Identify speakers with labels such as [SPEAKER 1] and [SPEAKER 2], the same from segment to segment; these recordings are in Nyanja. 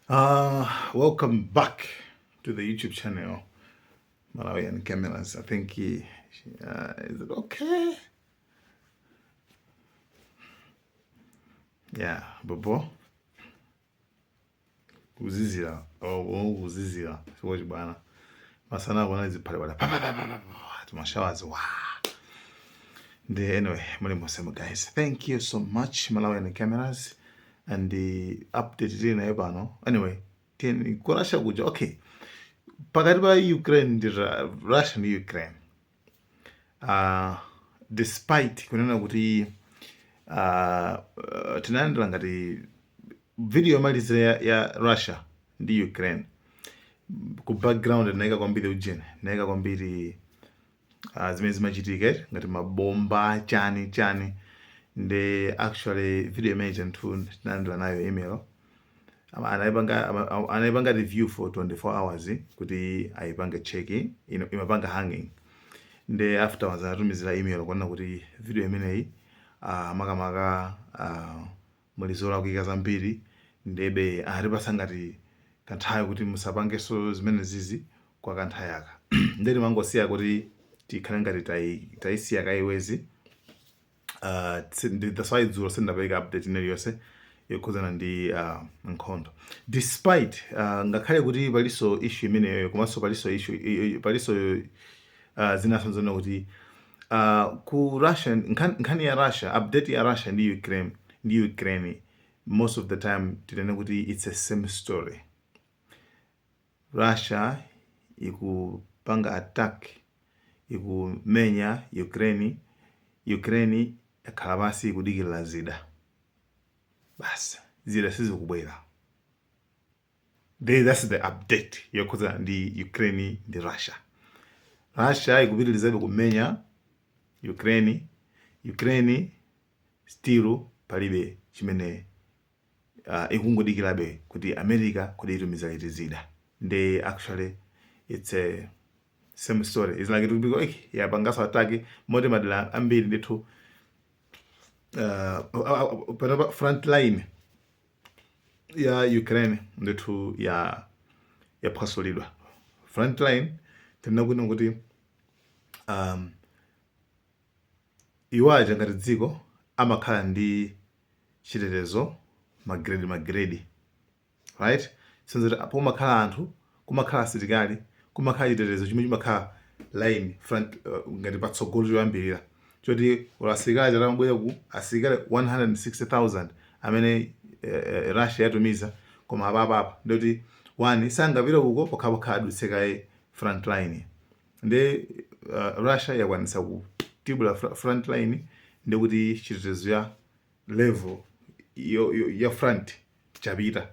[SPEAKER 1] Uh, welcome back to the YouTube channel, Malawian Cameras. I think he, uh, is it okay? Yeah, Bobo. Uzizira. Oh, oh uzizira. Siwoji bwana. Masana bwana zipale bwana. Pa pa pa pa pa. Tumashawazi. Wow. Ndi anyway, muli mosema guys. Thank you so much Malawian Cameras. and uh, update tili nayo pano anyway tiyeni ku russia kuja okay pakati pa ukraine ndi russia ndi ukraine uh, despite kunena kuti uh, uh, tinalandira ngati video yomalizira ya, ya russia ndi ukraine ku background ndinaika kwambiri ujeni ndinaika kwambiri uh, zimene zimachitika eti, ngati mabomba chani chani nde actually video imeneyi chanthu ndinalandira nayo email Ama- anaipanga ama- ama- anaipanga review for 24 hours kuti aipange checking imapanga hanging nde afterwards anatumizira email kunena kuti video imeneyi uh, makamaka uh, Muli zolakwika zambiri ndebe anatipatsa ngati kanthawi kuti musapangeso zimenezizi kwa kanthawi aka nde timangosiya kuti tikhale ngati tai taisiya kaye eti uh, that's why dzulo sindapeleka update ina iliyonse yokhudzana ndi uh, nkhondo despite uh, ngakhale kuti paliso issue imeneyoyo komanso paliso issue paliso uh, zinaso zona kuti Uh, ku Russia nkhan, nkhani ya Russia update ya Russia ndi Ukraine ndi Ukraine most of the time tinene kuti it's a same story Russia ikupanga attack ikumenya Ukraine Ukraine yakhala pansi ikudikirira zida basi zida sizikubwera Ndiye that's the update yokhudzana ndi Ukraine ndi Russia. Russia ikupitirizabe kumenya Ukraine, Ukraine still palibe chimene uh, ikungodikirabe kuti America kodi itumiza liti zida. Ndiye actually it's a same story is like tupiko eh yapangaso ataki moti madela ambiri ndithu uh, front line ya Ukraine ndithu ya yaphwasulidwa frontline tikunena kuti um, iwo aja ngati dziko amakhala ndi chitetezo magrade magrade right sizoti pomakhala anthu Kumakhala asilikali, kumakhala chitetezo chomwe chimakhala line, front, ngati patsogolo choyambirira, choti olo asilikali atati abwera ku, asilikali 160,000 amene Russia yatumiza, koma apapa apa ndoti one sangapite uko pokhapokha adutse kaye front line. Ndiye Russia yakwanitsa kutibula front line, ndikuti chitetezo cha level ya front. chapter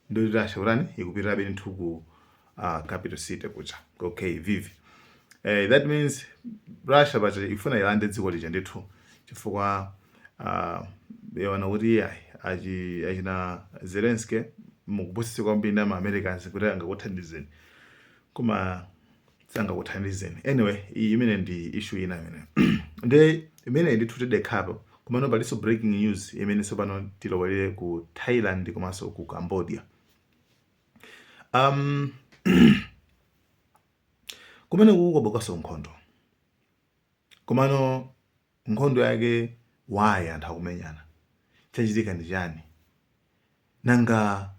[SPEAKER 1] ndiye kuti Russia kutani ikupitirabe ndithu ku uh, capital city kuja ku kyiv eh, that means russia but ifuna ilande dziko lija ndithu chifukwa uh, yaona kuti iyayi achi- achina zelenski mukupusitsidwa kwambiri na maamericans kuti angakuthandizeni koma sangakuthandizeni anyway iyi imene ndi issue ina imene nde imene ndithu tidekhapo komano palinso breaking news imene tsopano tilowelere ku thailand komanso ku cambodia um, kumene kukubukaso nkhondo komano nkhondo yake why anthu akumenyana chachitika ndi chani nanga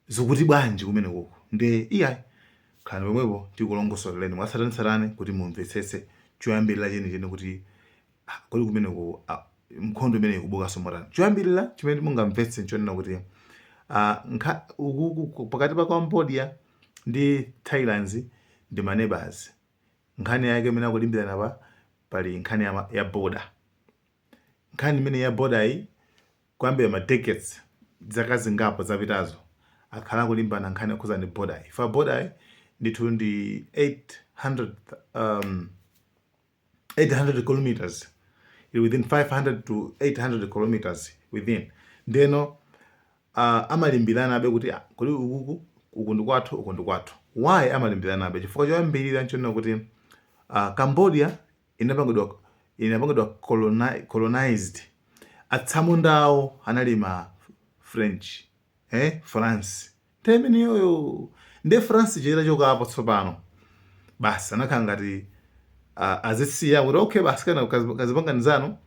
[SPEAKER 1] zikuti bwanji kumenekoko nde iyayi khalani pomwepo tikulongosoleleni mwatsatanetsatane kuti mumvetsetse choyambirira chenicheni kuti ah, kodi kumeneko ah, nkhondo imene ikubukanso motani choyambirira chimene mungamvetse nchonena kuti ah, nkha- uku- uku- pakati pa cambodia ndi thailand ndi maneighbors nkhani yake imene akulimbirana pa pali nkhani ya, ma- ya border nkhani imene ya border-yi Kuyambira ma decades, zaka zingapo zapitazo, akhala akulimbana nkhani yokhudzana ndi border-yi. Chifukwa border-yi ndithu ndi 800 km, ili within 500 to 800 km within. Ndeno amalimbiranabe kuti kodi ukuku, uku ndi kwathu, uku ndi kwathu. Why amalimbiranabe? Chifukwa choyambirira n'chonena kuti Cambodia inapangidwa inapangidwa coloni colonized atsamunda awo anali ma french eh france nthawi imeneyoyo nde france itachokapo tsopano basi anakhala ngati uh, azisiya kuti okay basi kana kazi- kazipangani zanu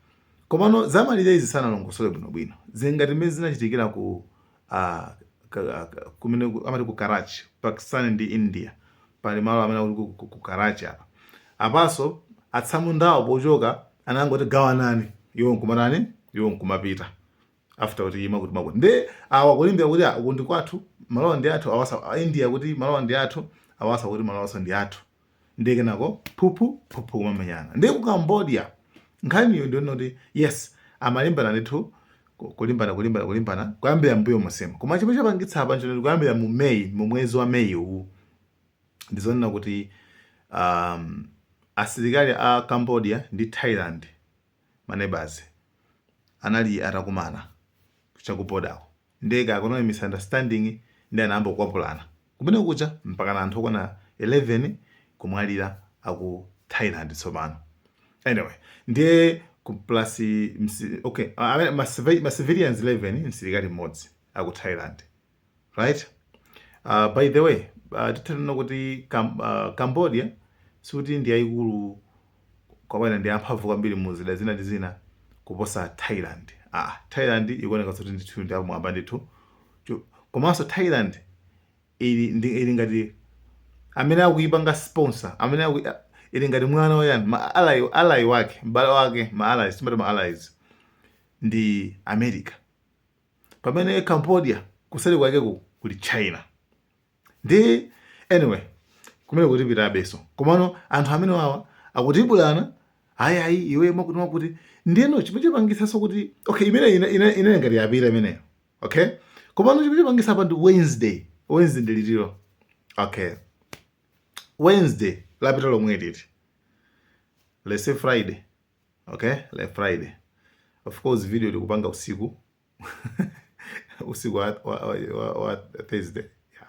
[SPEAKER 1] komano zamalire izi sanalongosole bwinobwino zili ngati mmene zinachitikira ku kumene amati ku Karachi, Pakistan ndi India. Pali malo amene akuti ku, ku Karachi apa. Apaso atsamundawo pochoka anangoti gawanani iwo nkumatani iwo nkumapita after kuti ima kuti makuti nde awa kulimbirana kuti uku ndi kwathu malowa ndi athu awaso India kuti malowa ndi athu awaso kuti malowanso ndi athu ndiye kenako phuphu phuphu kumamenyana ndiye ku cambodia nkhaniyo ndiyonena kuti yes amalimbana ndithu ku- kulimbana kulimbana kulimbana kuyambira mbuyo monsemu koma chomwe chapangitsa apa nchonena kuti kuyambira mu may mu mwezi wa may uwu ndizonena kuti um, asilikali a cambodia ndi thailand maneighbors anali atakumana cha ku border-ko Ndiye kaya kunali misunderstanding ndiye anayamba kukwapulana kumene kuja mpakana anthu okwana 11 kumwalira aku Thailand tsopano. Anyway, ndiye ku plus ma si, okay, ah, amene ma civi- ma civilians 11 msilikali mmodzi aku Thailand. Right? Uh, by the way, uh, titha kunena kuti Cam uh, Cambodia sikuti ndi yayikulu kapena ndi amphamvu kwambiri mu zida zina ndi zina kuposa Thailand. Aaa Thailand ikuoneka kuti ndithu ndi apamwamba ndithu. Chu- Komanso Thailand ili ndi ili ngati amene akuipanga sponsor amene aku, ili ngati mwana wa chani ma ally ally wake m'bale wake ma allies timati ma allies ndi America pamene Cambodia kuseri kwake ku kuli China nde anyway kumene kuti pitabeso komano anthu amenewawa akutibulana ayi ayi iwe makuti makuti ndiyeno chimene chapangitsanso kuti okay imene imene ngati yapita imeneyo okay komano chimene chapangitsa apa ndi wednesday wednesday ndi liti lero okay wednesday lapita lomweli let's say friday okay lero friday of course video tikupanga usiku usiku wa, wa, wa, wa thursday yeah.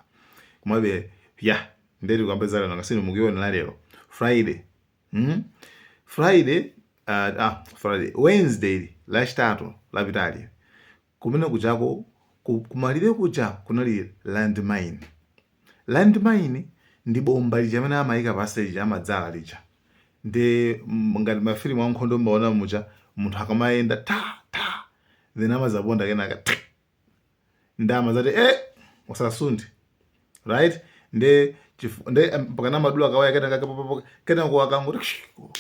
[SPEAKER 1] komabe yeah ndeti tikambe za lero nanga si inu mukuionera lero friday mm? friday uh, ah, friday wednesday lachitatu lapitali kumene kujako kumalire kuja kunali landmine Landmine ndi bomba lija limene amaika pansi lija amadzala lija. Nde ngati mafilimu ankhondo mumaona muja munthu akamayenda ta! ta! then amadzaponda kenaka th! nde amadzati e! usasunthe right nde nde mpakana amadula kawaya kenaka kenako akangoti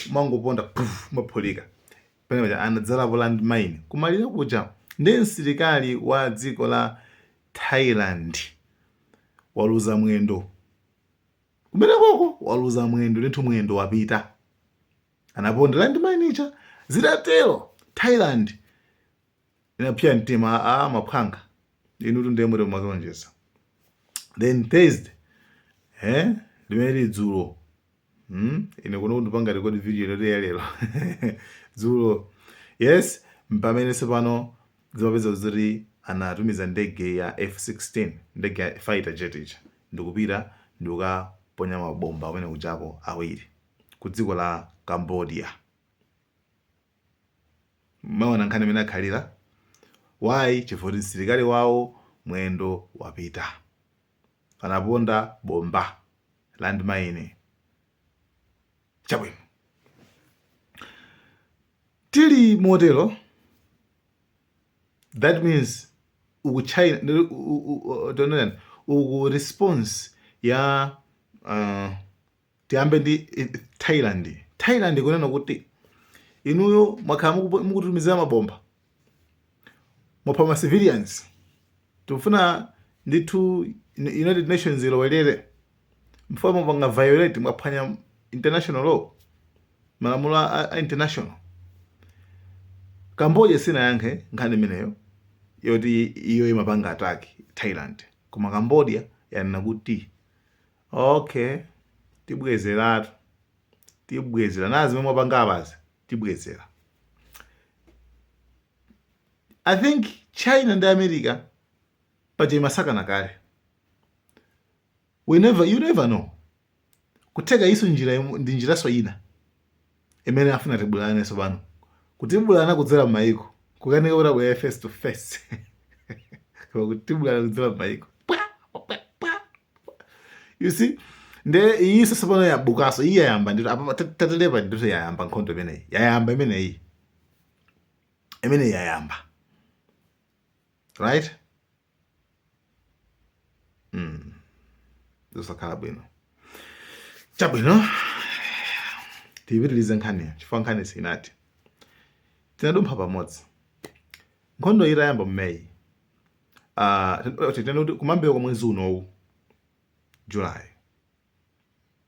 [SPEAKER 1] umangoponda puff! umaphulika. Pamene paja anadzalapo land mine kumalire kuja nde msilikali wa dziko la Thailand waluza mwendo kumenekoko waluza mwendo ndithu mwendo wapita anaponda land mine ija zitatero Thailand inapya mtima a ah, maphwanga inutu ndiye mwadziwonjeza then thursday eh limene lili dzulo hmm? ine kuno ndikupanga record video inoyi ya lero dzulo yes mpamene tsopano zimapezeka kuti anatumiza ndege ya f16 ndege ya fighter jet ija ndikupita ndikukaponya mabomba kumene kujako awiri ku dziko la cambodia Mwaona nkhani mmene akhalira? Why? Chifukwa kuti msilikali wawo mwendo wapita. Anaponda bomba, land mine. Chabwino. Tili motero, that means uku China, uku response ya uh, Tiyambe ndi Thailand. Thailand ikunena kuti inuyo mwakhala mukutitumizira mabomba mwapha ma civilians tikufuna ndithu United Nations ilowelere chifukwa mwapanga violate mwaphwanya international law malamulo a international Cambodia sinayankhe nkhani imeneyo yoti iyo imapanga attack Thailand koma Cambodia yanena kuti ok tibwezeratu tibwezera nazi zimene mwapanga abazi tibwezera i think china ndi america paja imasakana kale, we never you never know kutheka iyinso njira imu- ndi njiraso ina imene afuna atibulane tsopano kutibulana kudzera m'mayiko kukanika kuti abwere face to face koma kutibulana kudzera m'mayiko you see nde iyi tsopano yabukanso iyi yayamba ndithu apa tatelepa ndithu yayamba nkhondo imeneyi yayamba imeneyi imeneyi yayamba right mm. zosakhala bwino chabwino tiyipitilize nkhani chifukwa nkhanizi zinati tinadumpha pamodzi nkhondo itayamba mu May ah, ten- oh, tinene kuti kumayambiriro kwa mwezi unowu july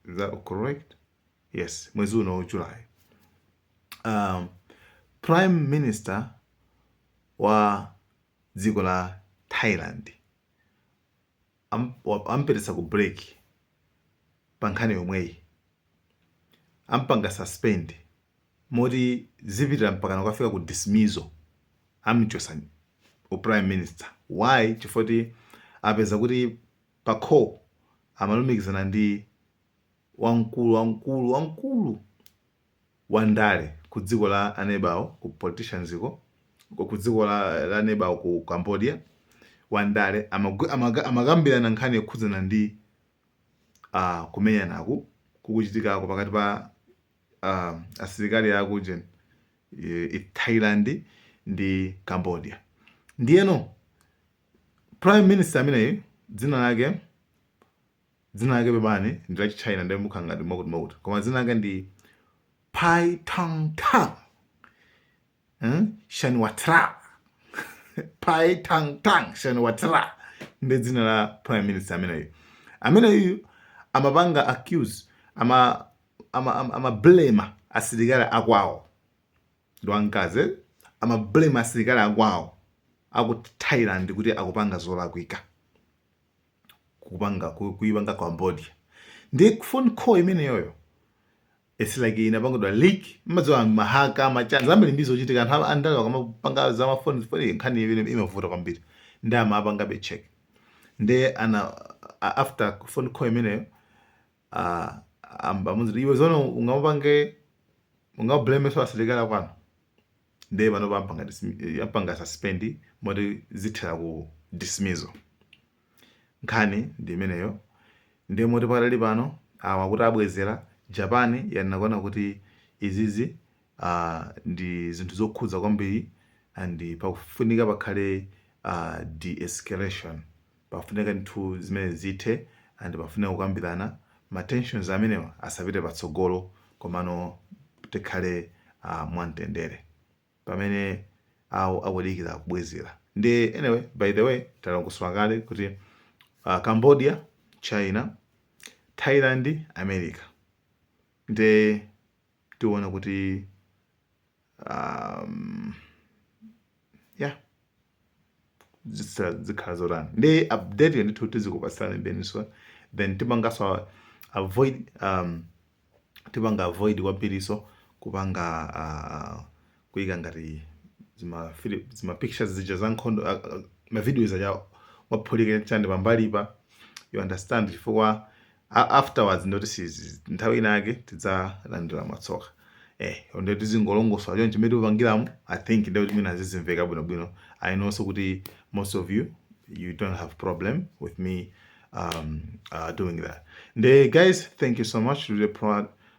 [SPEAKER 1] is that correct yes mwezi unowu july um, prime minister wa dziko la thailand am, wa- ampititsa ku break pa nkhani yomweyi ampanga suspend moti zipitira mpakana kukafika ku dismissal amchosa u prime minister why chifukwa kuti apeza kuti pa call amalumikizana ndi wamkulu wamkulu wamkulu wa ndale ku dziko la anebawo ku politicians ko ku ku dziko la la anebawo ku Cambodia wa ndale amagwi- amaka- amakambirana nkhani yokhudzana ndi ah, kumenyanaku kukuchitikako pakati pa ah, asilikali a kujeni Thailand ndi Cambodia ndiyeno prime minister ameneyu dzina lake Dzina lake pepani ndi la Chitchaina ndiye zimakhala ngati mwakuti mwakuti. Koma dzina lake ndi Paetongtarn. Hmm? Shinawatra. Paetongtarn Shinawatra. Ndi dzina la Prime Minister ameneyu. Ameneyu amapanga accuse ama ama ama, ama blame asilikali akwawo. Ndi wamkazi eh? ama blame asilikali akwawo aku Thailand kuti akupanga zolakwika. kupanga kuipanga cambodia ndi phone call imeneyoyo it's like inapangidwa leak mumadziwa ma hacker ma chance ambiri ndi zochitika anthu a- andale akamapanga za mafoni foni nkhani imavuta kwambiri nde amapangabe check nde ana a- after phone call imeneyo ah, am- amuuza iwe zoona ungamapange ungablameso asilikali akwanu nde panopa ampanga dismi- ampanga suspend moti zithera ku dismissal nkhani ndi imeneyo nde moti pakadali pano awa akuti abwezera japan yanenako kuti izizi uh, ndi zinthu zokhudza kwambiri and pakufunika pakhale uh, de-escalation Pafunika zinthu zimenezi zithe and pafunika kukambirana ma tensions amenewa asapite patsogolo komano tikhale mwamtendere pamene awo akudikira kubwezera nde anyway by the way talongosola kale kuti Cambodia, China, Thailand, America nde. tiona kuti um, yeah zitsa- zikhala zotani nde update yo ndithu tizikupatsirani benso then tipangaso avoid um, tipanga avoid kwambiriso kupanga uh, kuika ngati zima fili zima pictures zija za nkhondo a- a- ma videos aja waphulika chani pambali apa you understand chifukwa a- afterwards ndi zoti sizi nthawi ina yake tidzalandira matsoka eh nde tizingolongosola chonchi mmene tikupangiramo i think ndi mmene zizimveka bwino bwino i know so kuti most of you you don't have problem with me um, uh, doing that. Nde guys, thank you so much. Really proud,